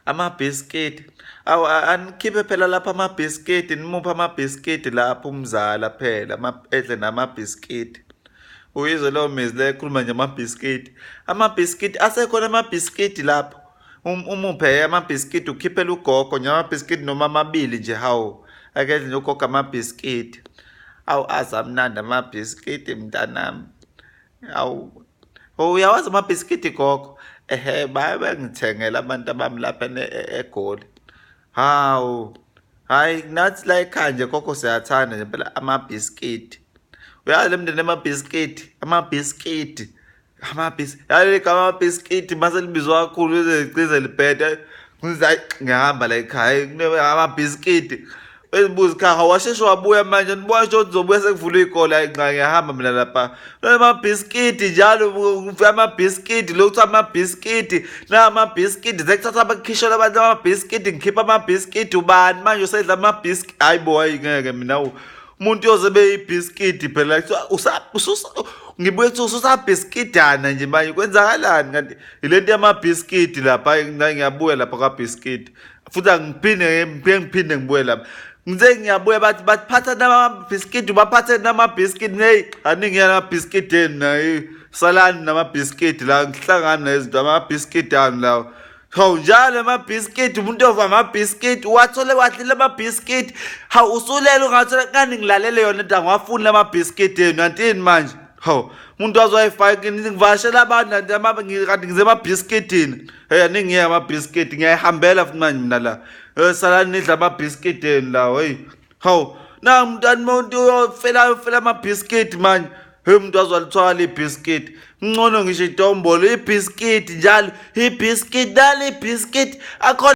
amabhiskidi awu anikhiphe phela lapha amabhiskidi nimuphe amabhiskidi lapho umzala phela edle namabhiskidi uyizwe leyo mizi le ekhuluma nje amabhiskidi amabhiskidi asekhona amabhiskidi lapho um, umuphe amabhiskidi ukhiphela ugogo nje amabhiskidi noma amabili nje hawu akedle nje ugogo amabhiskidi awu azamnandi amabhiskidi mntanami Awu. Oh, uyawazi amabhiskidi gogo. Ehhe baye bengithengela abantu abami lapha e-, eGoli. Hawu. Hayi nathi la ekhaya nje gogo siyathanda nje phela amabhiskidi. Uyazi lemndeni amabhiskidi, amabhiskidi. Amabhis. Yaye igama amabhiskidi mase libizwa kakhulu ize liqize libhede. Ngizayi ngihamba la ekhaya kunebanga amabhiskidi. ezibuzi kha hawasheshe wabuya manje nibona ukuthi uzobuya sekuvula iy'kole ayi nqa ngiyahamba mina lapha amabhiskidi njalo amabhiskidi lokhu kuthiwa amabhiskidi namabhiskidi sekuthatha abakhishela abantu amabhiskidi ngikhipha amabhiskidi ubani manje usedla amabhiskidi hayi bo hayi ngeke mina umuntu yoze beyibhiskidi phela ngibuye kuthiwa ususabhiskidana nje manje kwenzakalani kanti yile nto yamabhiskidi lapha ngiyabuya lapha kwabhiskidi futhi angiphinde ngiphinde ngiphinde ngibuye lapha ngize ngiyabuya bathi baphatha namabhiskidi baphathe namabhiskidi neyi aningi yanamabhiskidi eni nayo salani namabhiskidi la ngihlangani nezinto amabhiskidi ani lawo hawu njalo amabhiskidi umuntu ova amabhiskidi wathole wadlile amabhiskidi hawu usulele ungathola kani ngilalele yona into angiwafuni lamabhiskidi enu antini manje hawu umuntu wazoyifaka ngivashela abantu kanti ngize emabhiskidini Hey aningi ama biscuit ngiyayihambela futhi manje mina la. Eh sala nidla ama biscuit eni la hey. Haw na mntani muntu uyofela uyofela ama biscuit manje. Hey umuntu azwalithwala ibiscuit. Ngcono ngisho itombolo ibiscuit njalo ibiscuit dali ibiscuit akhona